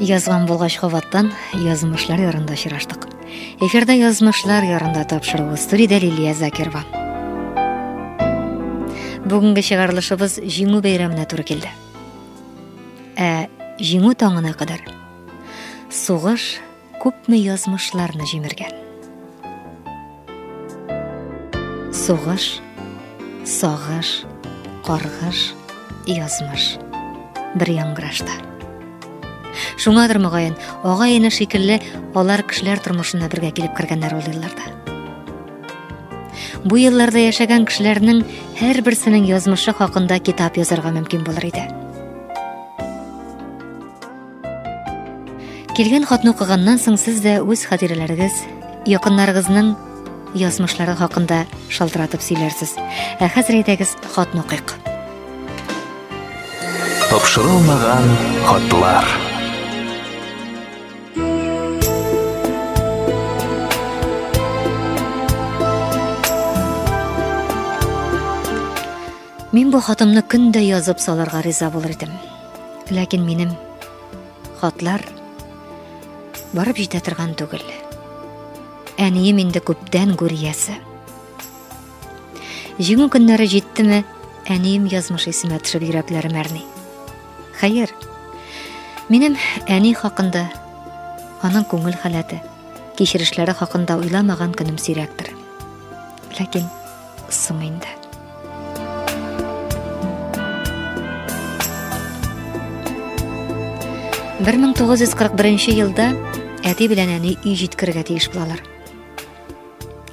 Язган булгач кабаттан язмышлар ярында очраштык. Эфирда язмышлар ярында тапшыруы студиядә Лилия Закирова. Бүгенге чыгарылышыбыз Җиңү бәйрәменә туры килде. Ә Җиңү таңына кадәр сугыш Күпме язмышларны җимергән. Сугыш, сагыш, каргыш, язмыш. Бер яңгырашта. Шуңадыр мөгаен, ага ене шикелле алар кешеләр тормышына бергә килеп кергәннәр ул елларда. Бу елларда яшәгән кешеләрнең һәрберсенең язмышы хакында китап язарга мөмкин булыр иде. Килгән хатны укыганнан соң сез дә үз хатирәләрегез, якыннарыгызның язмышлары хакында шалтыратып сөйләрсез. Ә хәзер әйдәгез хатны укыйк. Тапшырылмаган хатлар. Мин бу хатымны көн дә язып салырга риза булыр идем. Ләкин минем хатлар барып җитә торган түгел. Әнием инде күптән гүриясе. Җиңү көннәре җиттеме, әнием язмыш исемә төшеп йөрәкләрем әрни. Хәер, минем әни хакында, аның күңел халәте, кичерешләре хакында уйламаган көнем сирәктер. Ләкин Соң инде. Бер мең тугыз йөз кырык беренче елда әти белән әни өй җиткерергә тиеш булалар.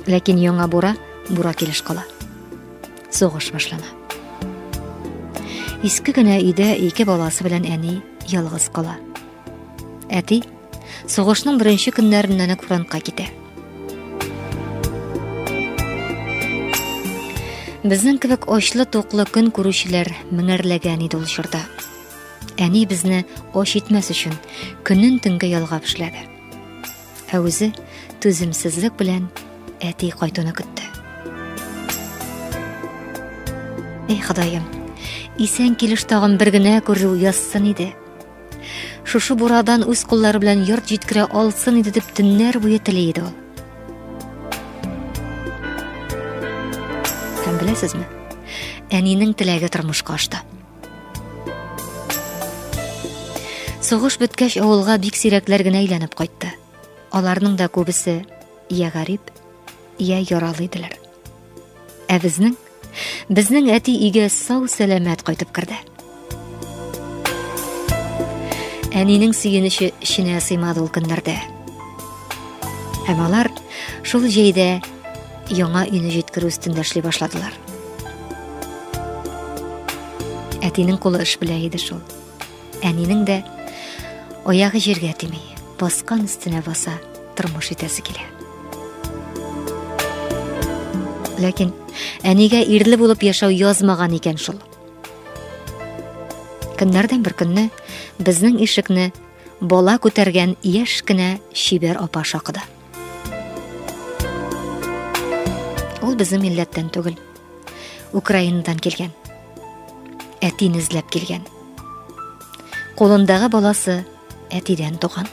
Ләкин яңа бура бура килеш кала. Сугыш башлана. Иске генә өйдә ике баласы белән әни ялгыз кала. Әти Сугышның беренче көннәреннән үк фронтка китә. Безнең кебек очлы туклы көн күрүчеләр меңәрләгән иде ул чорда. Әни безне оч итмәс өчен көнен төнгә ялгап эшләде. Ә үзе түземсезлек белән әти кайтуны көтте. Эй, Ходаем, исән килеш тагын бер генә күрү язсын иде. Шушы бурадан үз куллары белән йорт җиткерә алсын иде дип төннәр буе тели иде ул. Һәм беләсезме? Әнинең теләге тормышка ашты. Сугыш беткәч авылга бик сирәкләр генә әйләнеп кайтты. Аларның да күбесе я гарип, я яралы иделәр. Ә безнең безнең әти иге сау сәламәт кайтып керде. Әнинең сөенече эченә сыймады ул көннәрдә. Һәм алар шул җәйдә яңа өйне җиткерү өстендә эшли башладылар. Әтинең кулы эш белә иде шул. Әнинең дә аягы җиргә тими, баскан өстенә баса, тормыш итәсе килә. Ләкин әнигә ирле булып яшәү язмаган икән шул. Көннәрдән бер көнне безнең ишекне бала күтәргән яшь кенә чибәр апа шакыды. Ул безнең милләттән түгел. Украинадан килгән. Әтин эзләп килгән. Кулындагы баласы әтидән туган.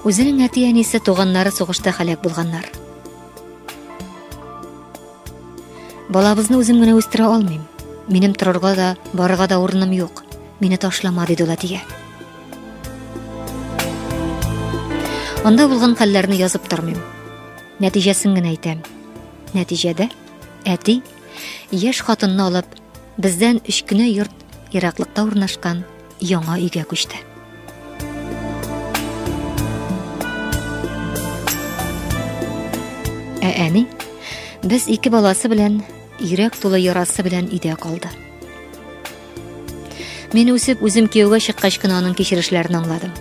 Үзенең әти-әнисе туганнары сугышта халәк булганнар. Балабызны үзем генә үстерә алмыйм. Минем торырга да, барырга да урыным юк. Мине ташлама, диде ул әтигә. Анда булган хәлләрне язып тормыйм. Нәтиҗәсен генә әйтәм. Нәтиҗәдә әти яшь хатынны алып, бездән өч кенә йорт Ераклыкта урнашкан яңа өйгә күчте. Ә әни без ике баласы белән йөрәк тулы ярасы белән өйдә калды. Мин үсеп, үзем кияүгә чыккач кына аның кичерешләрен аңладым.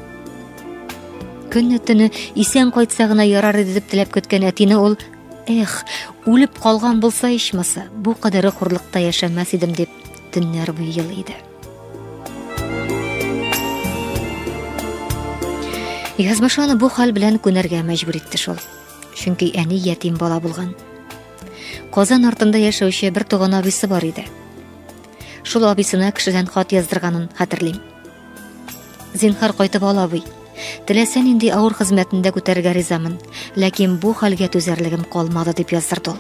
Көнне төне исән кайтса гына ярар иде дип теләп көткән әтине ул, эх, үлеп калган булса ичмаса, бу кадәре хурлыкта яшәмәс идем дип Төннәр буе ел иде. Язмыш аны бу хәл белән күнәргә мәҗбүр итте шул. Чөнки әни ятим бала булган. Казан артында яшәүче бер туган абисы бар иде. Шул абисына кешедән хат яздырганын хәтерлим. Зинхар кайтып ал, абый. Теләсә нинди авыр хезмәтендә күтәрергә ризамын, ләкин бу хәлгә түзәрлегем калмады, дип яздырды ул.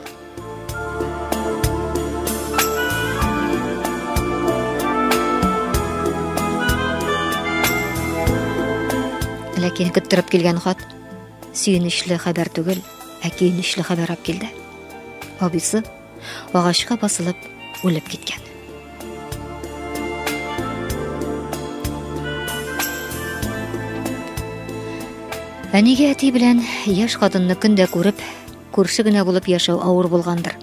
Ләкин көттереп килгән хат сөенечле хәбәр түгел, ә көенечле хәбәр алып килде. Абыйсы агачка басылып үлеп киткән. Әниге әти белән яш хатынны көндә күреп, күрше генә булып яшәү авыр булгандыр.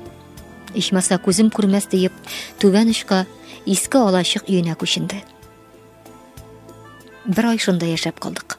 Ичмаса күзем күрмәс диеп, түбән очка иске алачык өенә күченде. Бер ай шунда яшәп калдык.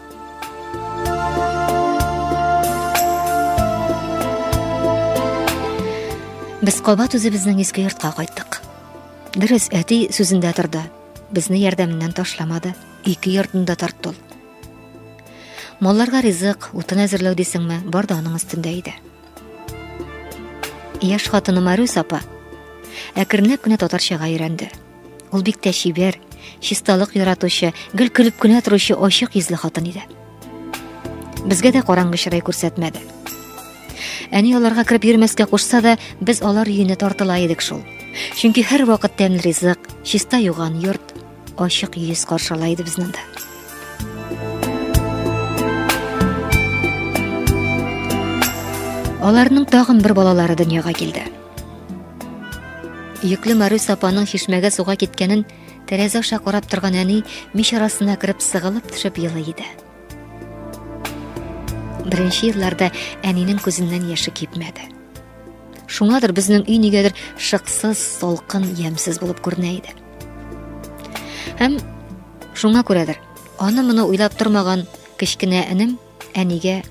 Без кабат үзебезнең иске йортка кайттык. Дөрес, әти сүзендә торды. Безне ярдәменнән ташламады, ике йортны да тартты. Малларга ризык, утын әзерләү дисеңме, бар да аның өстендә иде. Яш хатыны Марюс апа әкренләп кенә татарчага өйрәнде. Ул бик тә чибәр, чисталык яратучы, гел көлеп кенә торучы ачык йөзле хатын иде. Безгә дә караңгы чырай күрсәтмәде. Әни аларга кереп йөрмәскә кушса да, без алар өенә тартыла идек шул. Чөнки һәр вакыт тәмле ризык, чиста юган йорт, ачык йөз каршыла иде безне дә. Аларның тагын бер балалары дөньяга килде. Йөкле Марус апаның чишмәгә суга киткәнен тәрәзә аша карап торган әни мич арасына кереп сыгылып төшеп елый иде. Беренче елларда әнинең күзеннән яше кипмәде. Шуңадыр безнең өй нигәдер шыксыз, салкын, ямсыз булып күренә иде. Һәм шуңа күрәдер, аны моны уйлап тормаган кечкенә энем Әнигә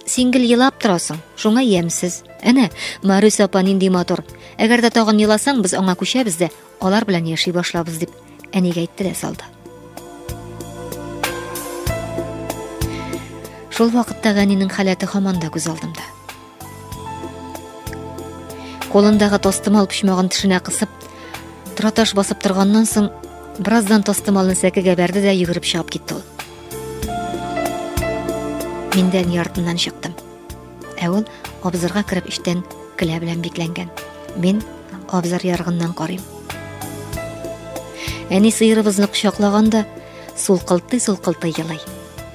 Син гел елап торасың, шуңа ямьсез. Әнә, Марис апа нинди матур. Әгәр дә тагын еласаң, без аңа күчәбез дә, алар белән яши башлабыз дип, әнигә әйтте дә салды. Шул вакытта Ганинең халәте һаман да күз алдымда. Кулындагы тостымал почмагын тешенә кысып, траташ басып торганнан соң, бераздан тостымалны сәкегә бәрде дә йөгереп чыгып китте ул. Мин дә әни артыннан чыктым. Ә ул абзарга кереп эчтән келә белән бикләнгән. Мин абзар яргыннан карыйм. Әни сыерыбызны кочаклаганда сулкылтый-сулкылтый елый.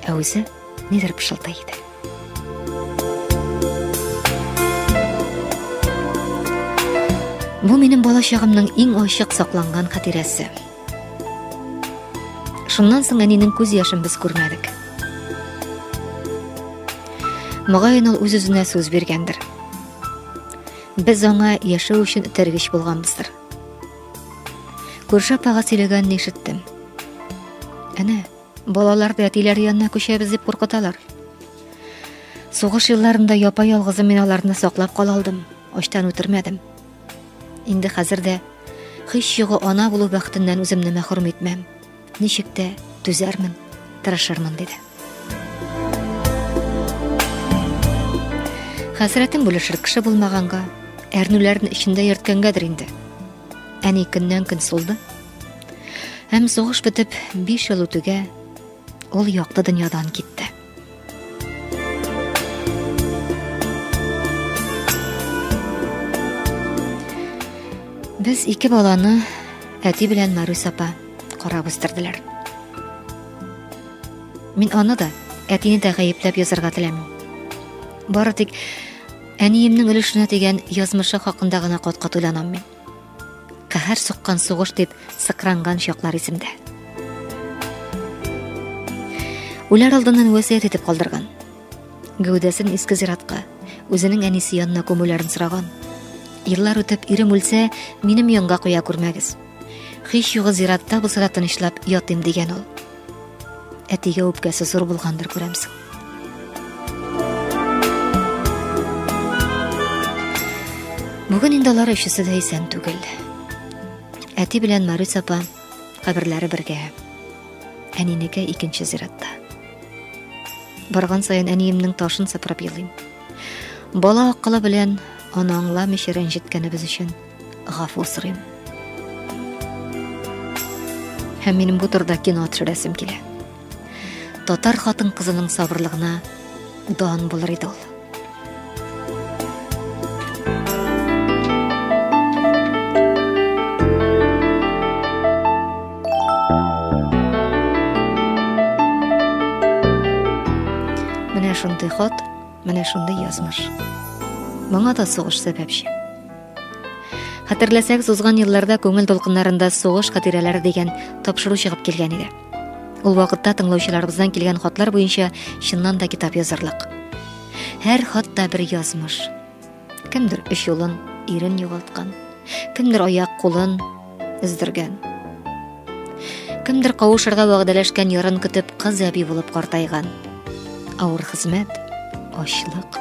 Ә үзе нидер пышылдый иде. Бу минем балачагымның иң ачык сакланган хатирәсе. Шуннан соң әнинең күз яшен без күрмәдек. Мөгаен ул үз-үзенә сүз биргәндер. Без аңа яшәү өчен этәргеч булганбыздыр. Күрше апага сөйләгәнне ишеттем. Әнә, балаларды әтиләре янына күчәбез дип куркыталар. Сугыш елларында япа-ялгызы мин аларны саклап кала алдым, ачтан үтермәдем. Инде хәзер дә һич югы ана булу бәхетеннән үземне мәхрүм итмәм. Ничек тә түзәрмен, тырышырмын диде. Хәсрәтен бүлешер кеше булмаганга, әрнүләрен эчендә йөрткәнгәдер инде. Әни көннән көн сулды. Һәм сугыш бетеп 5 ел үтүгә ул якты дөньядан китте. Без ике баланы әти белән Марус апа карап үстерделәр. Мин аны да, әтине дә гаепләп язарга теләмим. Бары тик әниемнең өлешенә дигән язмышы хакында гына каткат уйланам мин. Каһәр суккан сугыш дип сыкранган чаклар исемдә. Үләр алдыннан вәсият итеп калдырган. Гәүдәсен иске зиратка, үзенең әнисе янына күмүләрен сораган. Еллар үтеп, ирем үлсә, минем янга куя күрмәгез. Хиш югы зиратта булса да тынычлап ятыйм дигән ул. Әтигә үпкәсе зур булгандыр күрәмсең. Бүген инде алар өчесе дә исән түгел. Әти белән Марис апа каберләре бергә. Әнинеке икенче зиратта. Барган саен әниемнең ташын сыпырып елыйм. Бала акылы белән аны аңламыйча рәнҗеткәнебез өчен. Гафу сорыйм. Һәм минем бу турыда кино төшерәсем килә. Татар хатын кызының сабырлыгына дан булыр иде ул. Менә шундый хат Менә шундый язмыш. Моңа да сугыш сәбәпче. Хәтерләсәк, сузган елларда күңел дулкыннарында сугыш хатирәләре дигән тапшыру чыгып килгән иде. Ул вакытта тыңлаучыларыбыздан килгән хатлар буенча чыннан да китап язырлык. Һәр хатта бер язмыш. Кемдер үч юлын, ирен югалткан, кемдер аяк кулын өздергән. Кемдер кавышырга вәгъдәләшкән ярын көтеп кыз әби булып картайган. Авыр хезмәт, ачлык,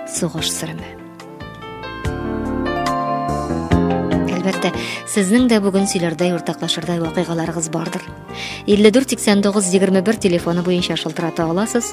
сугыш сыреме. Әлбәттә, сезнең дә бүген сөйләрдәй уртаклашырдай вакыйгаларыгыз бардыр. 54 89 21 телефоны буенча шылтырата аласыз.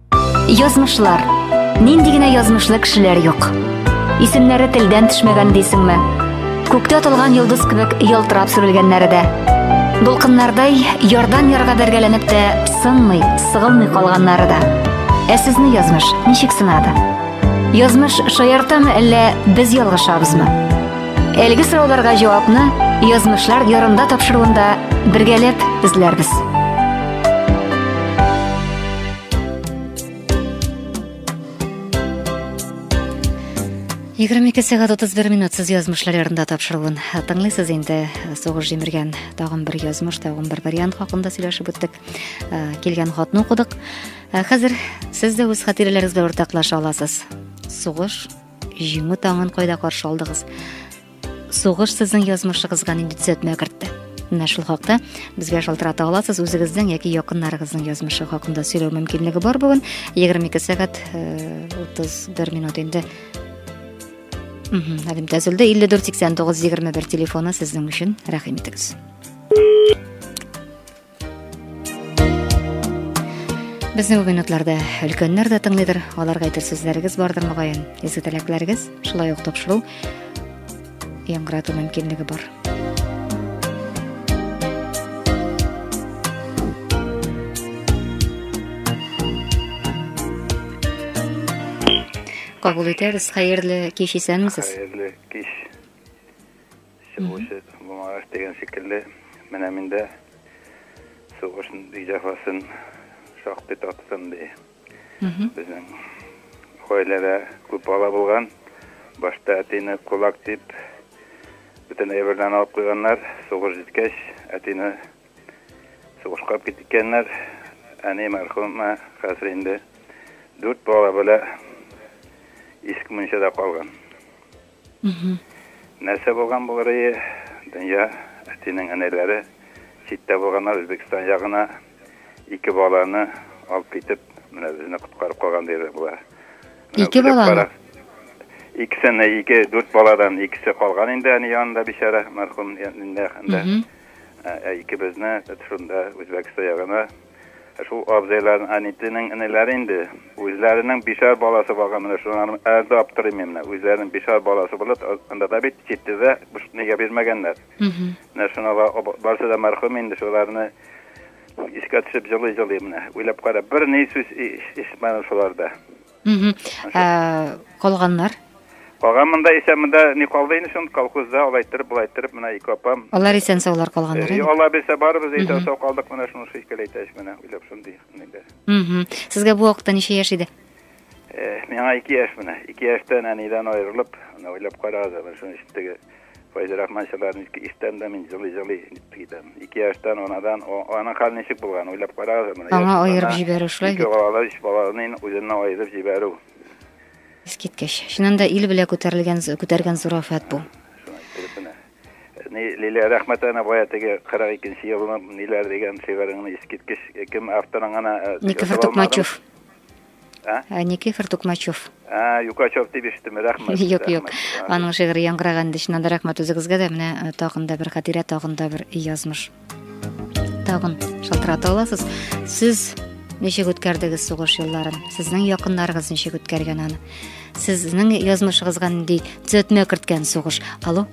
Язмышлар. Нинди генә язмышлы кешеләр юк. Исемнәре телдән төшмәгән дисеңме? Күктә атылган йолдыз кебек ялтырап сүрелгәннәре дә. Дулкыннардай ярдан ярга бәргәләнеп тә сынмый, сыгылмый калганнары да. Ә сезне язмыш ничек сынады? Язмыш шаяртамы әллә без ялгышабызмы? Әлеге сорауларга җавапны язмышлар ярында тапшыруында бергәләп эзләрбез. Егерме ике сәгать отыз бер минут сез язмышлар ярында тапшыруын тыңлыйсыз инде. Сугыш җимергән тагын бер язмыш, тагын бер вариант хакында сөйләшеп үттек. Килгән хатны укыдык. Хәзер сез дә үз хатирәләрегез белән уртаклаша аласыз. Сугыш җиңү таңын кайда каршы алдыгыз? Сугыш сезнең язмышыгызга нинди төзәтмә кертте? Менә шул хакта безгә шалтырата аласыз. Үзегезнең яки якыннарыгызның язмышы хакында сөйләү мөмкинлеге бар бүген. 22 сәгать 31 э, минут инде Әлем тәзілді 54-89-21 телефоны сіздің үшін рәхім етіңіз. Безне бу минутларда өлкәннәр дә тыңлыйдыр, аларга әйтер сүзләрегез бардыр мөгаен. Изге теләкләрегез, шулай ук тапшыру яңгырату мөмкинлеге бар. Кабул итәбез. Хәерле кич исәнмесез. Хәерле кич. Чыгучы булмагач дигән шикелле, менә мин дә сугыш ди җәфасын шактый таттым, ди. Безнең гаиләдә күп бала булган. Башта әтине кулак дип, бөтен әйберләрен алып куйганнар. Сугыш җиткәч, әтине сугышка алып киткәннәр. Әни мәрхүмә хәзер инде дүрт бала белән иске мунчада калган. Нәрсә булган булыр ие? Дөнья, әтинең энеләре читтә булганнар, Үзбекстан ягына ике баланы алып китеп, менә безне коткарып калган диярлек була. Ике баланы? Икесен, ике, дүрт баладан икесе калган инде әни янында бичара, мәрхүм инде. Ә икебезне шунда Үзбәкстан ягына Шул абзыйларның, әнитинең энеләре инде, үзләренең бишәр баласы булган, менә шулар әле дә аптырыйм мин менә, үзләренең бишәр баласы булып, анда да бит читтедә нигә бирмәгәннәр. Менә шуна барсы да мәрхүм инде, шуларны искә төшеп җылый-җылый менә, уйлап кара, бер ни сүз ишетмәдем шуларда. калганнар калган монда исә монда не калды инде шул колхозда алай иттереп болай иттереп менә ике апам алар исән саулар калганнар э, алла бирсә барыбыз әйтә сау калдык менә шуны шул икәле әйтәч менә уйлап шундый инде сезгә бу вакытта ничә яшь иде э, миңа ике яшь менә ике яшьтән әнидән аерылып менә уйлап карагыз менә шуның эчендәге Файзрахман Чабарницкий иштән дә мин җылый-җылый китәм. Ике яшьтән анадан, аның хәл ничек булган, уйлап карагыз аны. Аңа аерып җибәрү шулай бит. Ике балалы өч баланы үзеннән аерып җибәрү. Искиткеч. Чыннан да ил белә күтәрелгән, күтәргән зур афәт бу. Лилия рәхмәт әнә бая теге 42 нче елны ниләр дигән шигыреңне искиткеч кем авторың гына Никифор Тукмачев Ә? Ә, Никифор Тукмачев. Ә, Юкачев дип ишеттем, рәхмәт. Юк, юк. Аның шигыре яңгыраган инде, чыннан да рәхмәт үзегезгә дә. Менә э, тагын да бер хатирә, тагын да бер язмыш. Тагын шалтырата аласыз. Сез ничек үткәрдегез сугыш елларын? Сезнең якыннарыгыз ничек үткәргән аны? Сезнең язмышыгызга нинди төзәтмә керткән сугыш? Алло?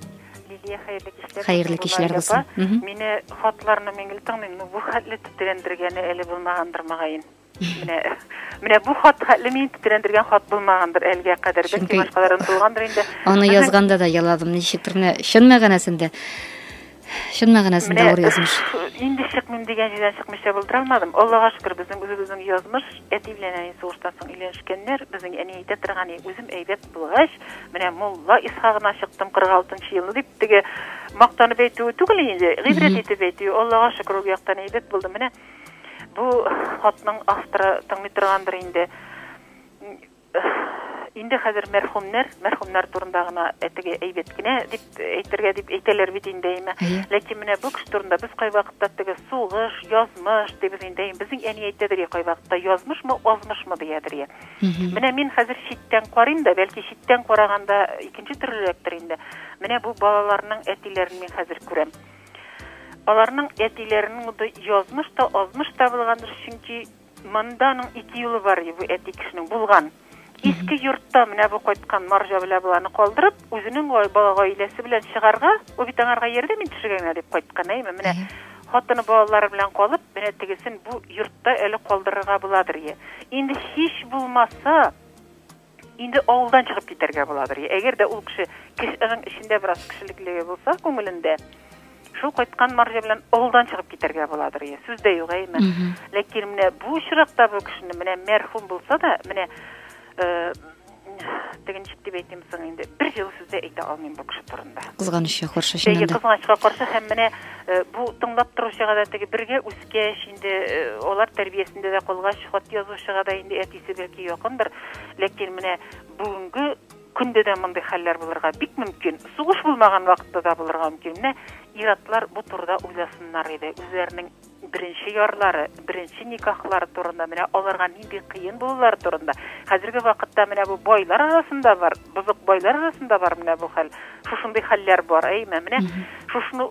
хәерле кичләр булсын мине хатларны мин гел тыңлыйм ну бу хәтле тетрәндергәне әле булмагандыр мөгаен Менә, менә бу хат хәтле мин тетрәндергән хат булмагандыр әлегә кадәр. Бәлки башкаларын булгандыр инде. Аны язганда да яладым, ничектер менә чын мәгънәсендә. Чын мәгънәсендә авыр язмыш. Инде чыкмыйм дигән җирдән чыкмыйча булдыра алмадым. Аллага шөкер, безнең үзебезнең язмыш, әти белән әни сугыштан соң өйләнешкәннәр. Безнең әни әйтә торган, үзем әйбәт булгач, менә мулла Исхагына чыктым 46 елны дип теге мактанып әйтүе түгел инде, гыйбрәт итеп әйтүе. Аллага шөкер, ул яктан әйбәт булды. Менә Бу хатның авторы тыңлый торгандыр инде. Инде хәзер мәрхүмнәр, мәрхүмнәр турында гына әтеге әйбәт кенә дип әйтергә дип әйтәләр бит инде әйме. Ләкин менә бу кеше турында без кайвакытта теге сугыш, язмыш дибез инде. Безнең әни әйтәдер я кайвакытта язмышмы, азмышмы диядер я. Менә мин хәзер читтән карыйм да, бәлки читтән караганда икенче төрлерәктер инде. Менә бу балаларның әтиләрен мин хәзер күрәм. Аларның әтиләренең дә язмыш та, азмыш та булгандыр, чөнки монда аның ике юлы бар иде бу әти кешенең булган. Иске йортта менә бу кайткан марҗа белә баланы калдырып, үзенең бала гаиләсе белән чыгарга, ул бит аңарга ярдәм итешергә генә дип кайткан, әйме? Менә хатыны балалары белән калып, менә тегесен бу йортта әле калдырырга буладыр. Инде һич булмаса, Инде авылдан чыгып китәргә буладыр. Әгәр дә ул кеше кешенең эчендә бераз кешелеклеге булса, күңелендә, шул кайткан марҗа белән авылдан чыгып китәргә буладыр ие сүз дә юк әйме ләкин менә бу очракта бу кешене менә мәрхүм булса да менә э, теге ничек дип әйтим соң инде бер җылы сүз дә әйтә алмыйм бу кеше турында кызганычка каршы чыннан да кызганычка каршы һәм менә э, бу тыңлап торучыга да теге бергә үс үткәч, инде алар тәрбиясендә дә калгач, хат язучыга да инде әтисе бәлки якындыр. Ләкин менә бүгенге көндә дә мондый хәлләр булырга бик мөмкин. Сугыш булмаган вакытта да булырга мөмкин. Менә иратлар бу турыда уйласыннар иде. Үзләренең беренче ярлары, беренче никахлары турында, менә аларга нинди кыен булулар турында. Хәзерге вакытта менә бу байлар арасында бар, бозык байлар арасында бар менә бу хәл. Шушындый хәлләр бар, әйме? Менә шушны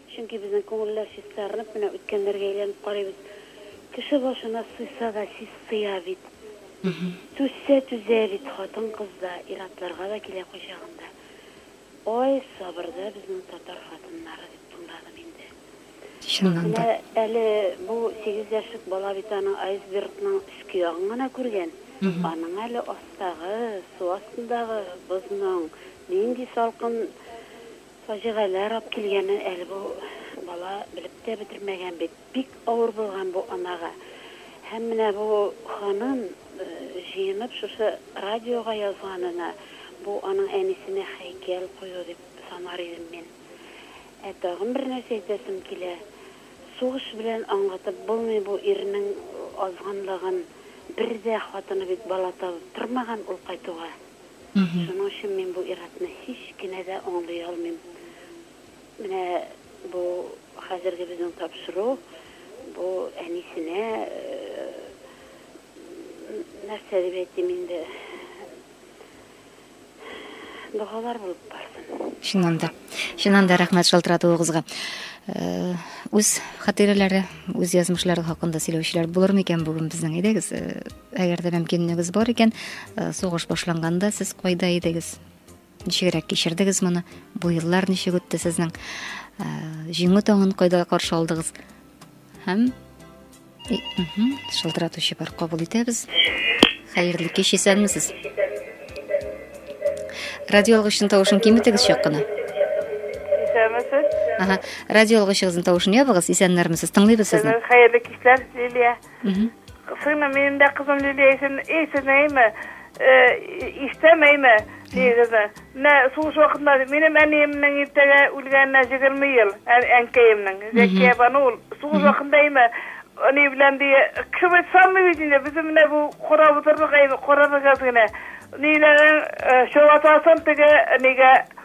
Чөнки безнең күңелләр чистарынып, менә үткәннәргә әйләнеп карыйбыз. Кеше башына суйса да сис сыя бит. Түзсә түзә бит хатын-кыз да, ир-атларга да килә кайчагында. Ай, сабырда безнең татар хатыннары, дип тыңладым инде. Чыннан да. Менә әле бу сигез яшьлек бала бит аның айсбергның өске ягын гына күргән. Аның әле астагы, су астындагы бозның нинди салкын Фаҗигаләр ап килгәнне әле бу бала белеп тә бетермәгән бит. Бик авыр булган бу анага. Һәм менә бу ханым җыенып шушы радиога язганына, бу аның әнисенә һәйкәл кую дип санар идем мин. Ә тагын бер нәрсә әйтәсем килә, сугыш белән аңлатып булмый бу ирнең азганлыгын. Бер дә хатыны бит бала табып тормаган ул кайтуга. Шуның өчен мин бу ир-атны һич кенә дә аңлый алмыйм. Менә бу хәзерге безнең тапшыру, бу әнисенә нәрсә дип әйтим инде, догалар булып барсын. Чыннан да. Чыннан да рәхмәт шалтыратуыгызга. Үз хатирәләре, үз язмышлары хакында сөйләүчеләр булыр микән бүген безнең? Әйдәгез, Әгәр дә мөмкинлегегез бар икән, э, сугыш башланганда сез кайда идегез? Ничегрәк кичердегез моны? Бу еллар ничек үтте сезнең? Э, җиңү таңын кайда каршы алдыгыз? Һәм шылтыратучы бар кабул итәбез. Хәерле кич, исәнмесез. Радио алгычның тавышын киметегез чак кына. Исәнмесез. Ага, радио алгычыгызның тавышын ябыгыз, исәннәрмесез, тыңлыйбыз сезне. Хәерле кичләр, Лилия. Сыймы, минем дә кызым Лилия исем, эй, сезнәйме, иштәмәйме, дигезне. Менә сугыш вакытында минем әниемнең иртәгә үлгәненә егерме ел, әнкәемнең, Зәкия бану ул. Сугыш вакытында име, әни белән дия, кем самый бит инде, безнең менә бу карап утырдык, әйме, карарыгыз генә. Ниләрен, чабатасын теге, нигә,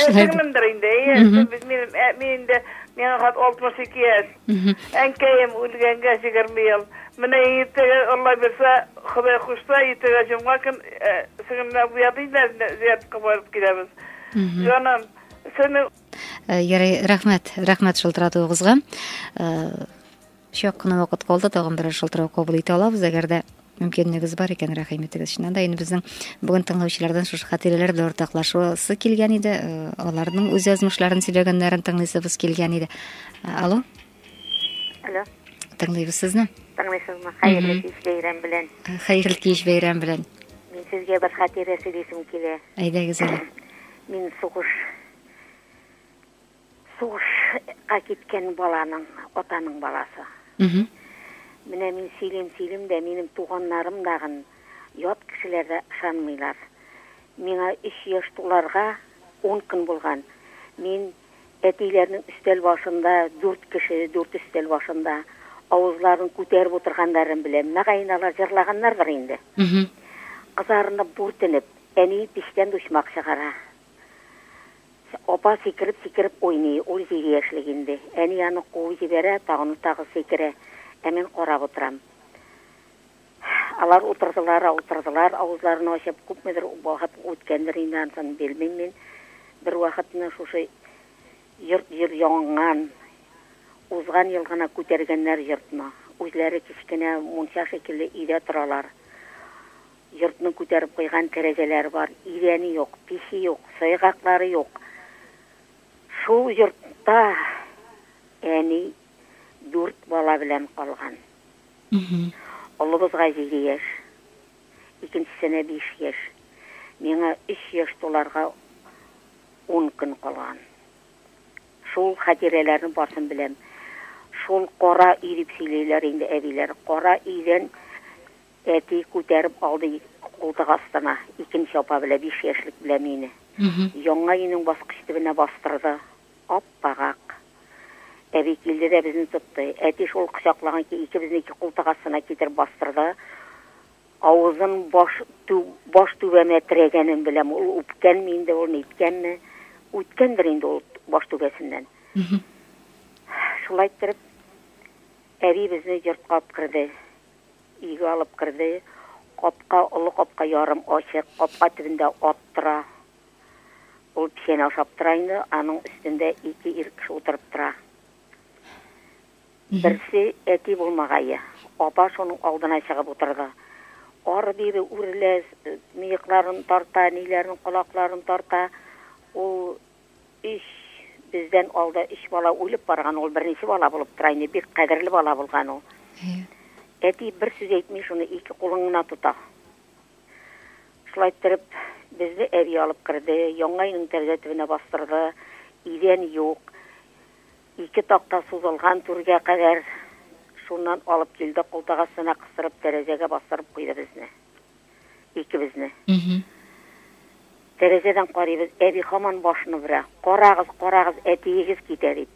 Әсәрмендер инде, әйе, без минем, ә, мин инде, миңа хат 62 яшь. Әнкәем үлгәнгә 20 ел. Менә иртәгә Алла бирсә, Ходай кушса, иртәгә җомга көн ә, сеңлемне буяды инде, зиярәткә барып киләбез. Җаным, сине Ярый, рәхмәт, рәхмәт шылтыратуыгызга. Чак кына вакыт калды, тагын берәр шылтырау кабул итә алабыз, әгәр дә мөмкинлегегез бар икән, рәхим итегез. Чыннан да инде безнең бүген тыңлаучылардан шушы хатирәләр белән уртаклашасы килгән иде, э, аларның үз язмышларын сөйләгәннәрен тыңлыйсыбыз килгән иде. Э, алло? Алло. Тыңлыйбыз сезне. Тыңлыйсызмы? Хәерле кич бәйрәм белән. Э, хәерле кич бәйрәм белән. Мин сезгә бер хатирә сөйлисем килә. Әйдәгез әле. Мин сугыш Сугышка киткән баланың, атаның баласы. Менә мин сөйлим, сөйлим дә, минем туганнарым дагын ят кешеләр дә ышанмыйлар. Миңа 3 яшь туларга 10 көн булган. Мин әтиләрнең өстәл башында, 4 кеше, 4 өстәл башында авызларын күтәреп утырганнарын беләм. Мәгаен алар җырлаганнардыр инде. Кызарынып, бүртенеп, әни печтән дучмак чыгара. Апа сикереп-сикереп уйный, ул җиде яшьлек инде. Әни аны куып җибәрә, тагын тагы сикерә, ә мин карап утырам. Алар утырдылар, утырдылар, авызларын ачып, күпмедер вакыт үткәндер инде, ансын белмим мин. Бервакытны шушы йорт җыр яңган, узган ел гына күтәргәннәр йортны. Үзләре кечкенә мунча шикелле өйдә торалар. Йортның күтәреп куйган тәрәзәләре бар, идәне юк, пече юк, сайгаклары юк. Шул йортта әни дүрт бала белән калган. Олыбызга җиде яшь, икенчесенә биш яшь, миңа өч яшь туларга ун көн калган. Шул хатирәләрнең барсын беләм. Шул кара өй дип сөйлиләр инде әбиләр. Кара өйдән Әти күтәреп алды култык астына, икенче апа белән биш яшьлек белән мине. Яңа өйнең баскыч төбенә бастырды. Ап-пагак. Әби килде дә безне тотты. Әти шул кочаклаган ки, икебезне ике култык астына китереп бастырды. Авызын баш тү, баш түбәмә терәгәнен беләм. Ул үпкәнме инде ул, ниткәнме? Үткәндер инде ул баш түбәсеннән. Шулай иттереп, әби безне йортка алып керде. Өйгә алып керде. Капка, олы капка ярым ачык. Капка төбендә ат тора. Ул печән ашап тора инде. Аның өстендә ике ир кеше утырып тора. Берсе, әти булмагае. Апа шуның алдына чыгып утырды. Ары-бире үрелә, мыекларын тарта, ниләрен, колакларын тарта. Ул Ич, бездән алда өч бала үлеп барган, ул беренче бала булып тора инде, бик кадерле бала булган ул. Әйе. Әти бер сүз әйтми, шуны ике кулың гына тота. Шулай торып, безне әби алып керде, яңа өйнең тәрәзә төбенә бастырды, идән юк, ике такта сузылган түргә кадәр, шуннан алып килде, култык астына кыстырып, тәрәзәгә бастырып куйды безне. икебезне. Тәрәзәдән карыйбыз, әби хаман башын үрә. Карагыз, карагыз, әтиегез китә дип.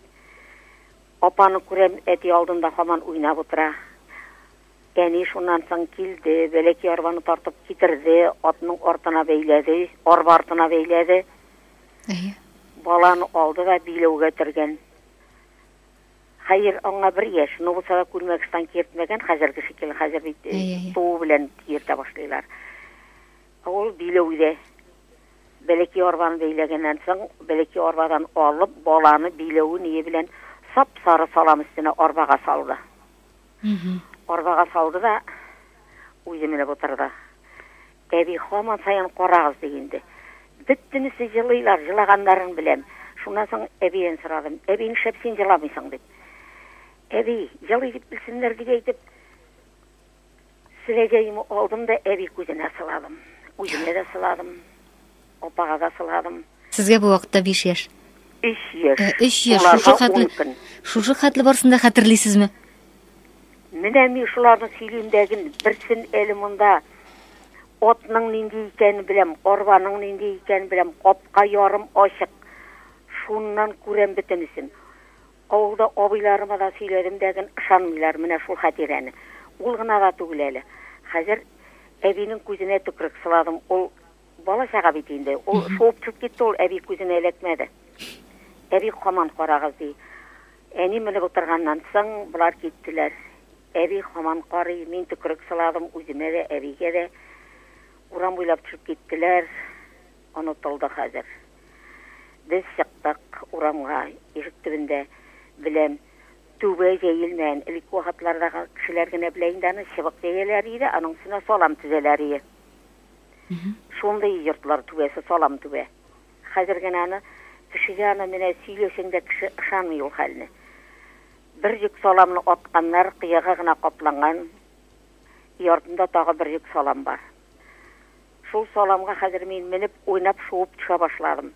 Апаны күрәм, әти алдында хаман уйнап утыра. Әни шуннан соң килде, бәләки арбаны тартып китерде, атның артына бәйләде, арба артына бәйләде. Әйе. Баланы алды да биләүгә төргән. Хәер, аңа бер яшь, но булса да күлмәк штанг киертмәгән, хәзерге шикелле, хәзер бит э, Әйе, әйе. туу белән киертә башлыйлар. Ә Ул биләү дә. Бәләкәй арбаны бәйләгәннән соң, бәләкәй арбадан алып, баланы биләү ние белән сап-сары салам өстенә арбага салды. Арбага салды да, үзе менеп утырды. Әби хаман саен карагыз ди инде. Бөтенесе җылыйлар, җылаганнарын беләм. Шуннан соң әбиен сорадым. Әби, нишләп син җыламыйсың дип. Әби, җылый дип белсеннәр дип әйтеп, селәгәемне алдым да әби күзенә сыладым. Үземә дә сыладым. Апага да сыладым. Сезгә бу вакытта биш яшь. Өч яшь. Э, өч яшь. Шушы хәтле, шушы хәтле барысын да хәтерлисезме? Менә мин шуларны сөйлим дәген, берсен әле монда отның нинди икәнен беләм, арбаның нинди икәнен беләм, капка ярым ачык. Шуннан күрәм бөтенесен. Авылда абыйларыма да сөйләдем дәген, ышанмыйлар менә шул хәтирәне. Ул гына да түгел әле. Хәзер әбинең күзенә төкрек сыладым. Ул Бала чага бит инде. Ул шуып төшеп китте, ул әби күзенә эләкмәде. Әби хаман карагыз ди. Әни менеп утырганнан соң болар киттеләр. Әби хаман карый, мин төкерек сыладым үземә дә, әбигә дә. Урам буйлап төшеп киттеләр. Онытылды хәзер. Без чыктык урамга, ишек төбендә белән түбә җәелмәгән. Элек вакытлардагы кешеләр генә белә инде аны, чыбык җәяләр иде, аның өстенә салам тезәләр иде. Шундый йортлар түбәсе салам түбә. Хәзер генә аны кешегә аны менә сөйләсәң дә кеше ышанмый ул хәлне. Бер йөк саламны атканнар, кыяга гына капланган. И артында тагы бер йөк салам бар. Шул саламга хәзер мин менеп, уйнап, шуып төшә башладым.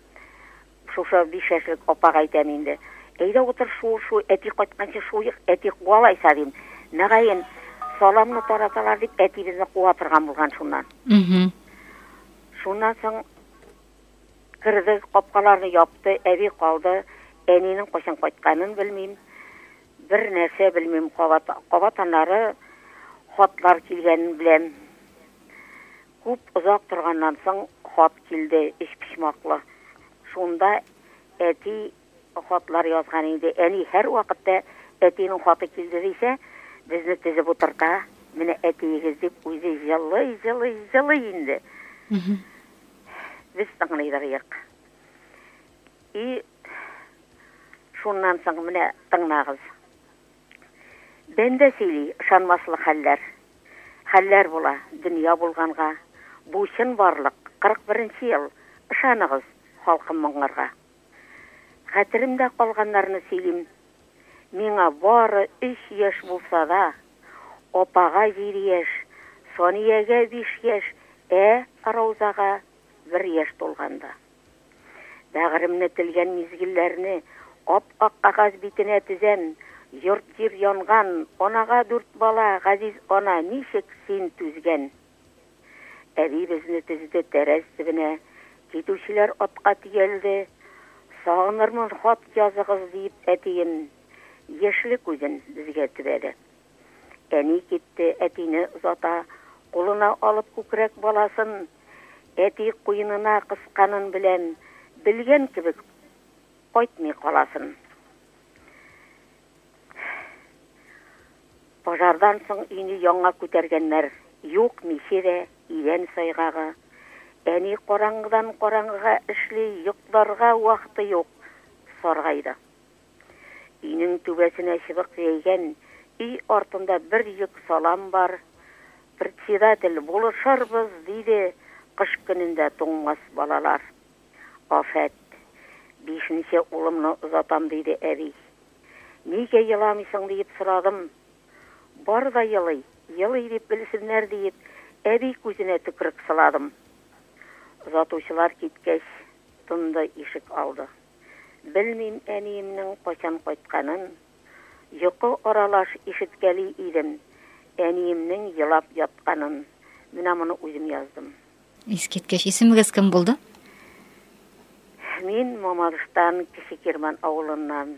Шушы биш яшьлек апага әйтәм инде. Әйдә утыр шуы шуй, әти кайтканчы шуйык, әти куа лайса, дим. Мөгаен, саламны тараталар дип, әтибезне куа торган булган шуннан. Шуннан соң керде, капкаларны япты, әби калды. Әнинең кайчан кайтканын белмим. Бер нәрсә белмим, кабат, кабат аннары хатлар килгәнен беләм. Күп озак торганнан соң хат килде, өчпочмаклы. Шунда әти хатлар язган инде. Әни һәрвакытта әтинең хаты килде дисә, безне тезеп утырта, менә әтиегез дип, үзе җылый, җылый, җылый инде. Без тыңлыйдык. И шуннан соң менә тыңлагыз. Бәндә сөйли, ышанмаслык хәлләр. Хәлләр була, дөнья булганга, Бу чын барлык, кырык беренче ел, Ышаныгыз, халкым, моңнарга. Хәтеремдә калганнарны сөйлим, Миңа бары өч яшь булса да, Апага җиде яшь, Саниягә биш яшь, Ә Раузага бер яшь тулганда. Бәгыремне телгән мизгелләрне Ап-ак кагаз битенә тезәм. Йорт-җир янган, анага дүрт бала, Газиз ана, ничек син түзгән? Әби безне тезде тәрәз төбенә, Китүчеләр атка төялде. Сагынырмын, хат языгыз, диеп әтием Яшьле күзен безгә төбәде. Әни китте, әтине озата. Кулына алып күкрәк баласын әти куенына кысканын беләм, белгән кебек кайтмый каласын. Пожардан соң өйне яңа күтәргәннәр. Юк миче дә, идән сайгагы. Әни караңгыдан караңгыга эшли, йокларга вакыты юк, саргайды. Өйнең түбәсенә чыбык җәйгән, өй артында бер йөк салам бар. Председатель, Булышырбыз, диде, Кыш көнендә туңмас балалар. Афәт, Бишенче улымны озатам, диде әби. Нигә еламыйсың, диеп сорадым. Бар да елый, елый дип белсеннәр диеп, әби күзенә төкерек сыладым. Озатучылар киткәч, тынды ишек алды. Белмим әниемнең кайчан кайтканын. Йокы аралаш ишеткәли идем әниемнең елап ятканын. Менә моны үзем яздым. Искиткеч. Исемегез кем булды? Мин Мамадыштан, Кече Кирмән авылыннан.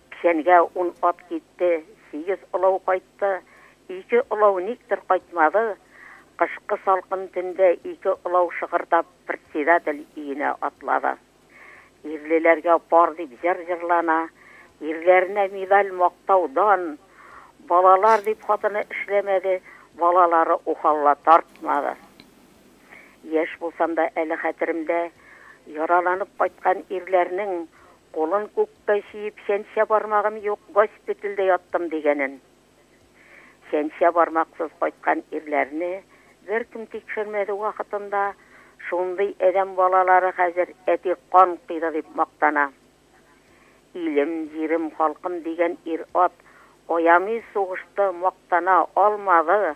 Кичәнгә ун ат китте, сигез олау кайтты, ике олау никтер кайтмады. Кышкы салкын төндә ике олау шыгырдап председатель өенә атлады. Ирлеләргә пар дип җыр җырлана, ирләренә медаль, мактау, дан. Балалар дип хатыны эшләмәде, балалары ухалла тартмады. Яшь булсам да әле хәтеремдә, яраланып кайткан ирләрнең кулын күк. Тайсиип чәнчә бармагым юк, госпитальдә яттым дигәнен. Чәнчә бармаксыз кайткан ирләрне беркем тикшермәде вакытында, шундый адәм балалары хәзер әти кан койды дип мактана. Илем, җирем, халкым дигән ир-ат аямый сугышты, мактана алмады.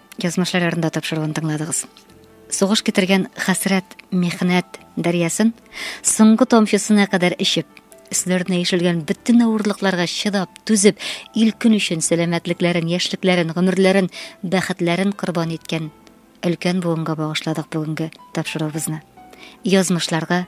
Язмышлар ярында тапшыруын тыңладыгыз. Сугыш китергән хәсрәт, мехнәт дәрьясын соңгы тамчысына кадәр эчеп, өсләренә ишелгән бөтен авырлыкларга чыдап, түзеп, ил көн өчен сәламәтлекләрен, яшьлекләрен, гомерләрен, бәхетләрен корбан иткән өлкән буынга багышладык бүгенге тапшыруыбызны. Язмышларга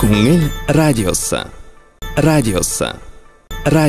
Күңел радиосы. Радиосы. Радио.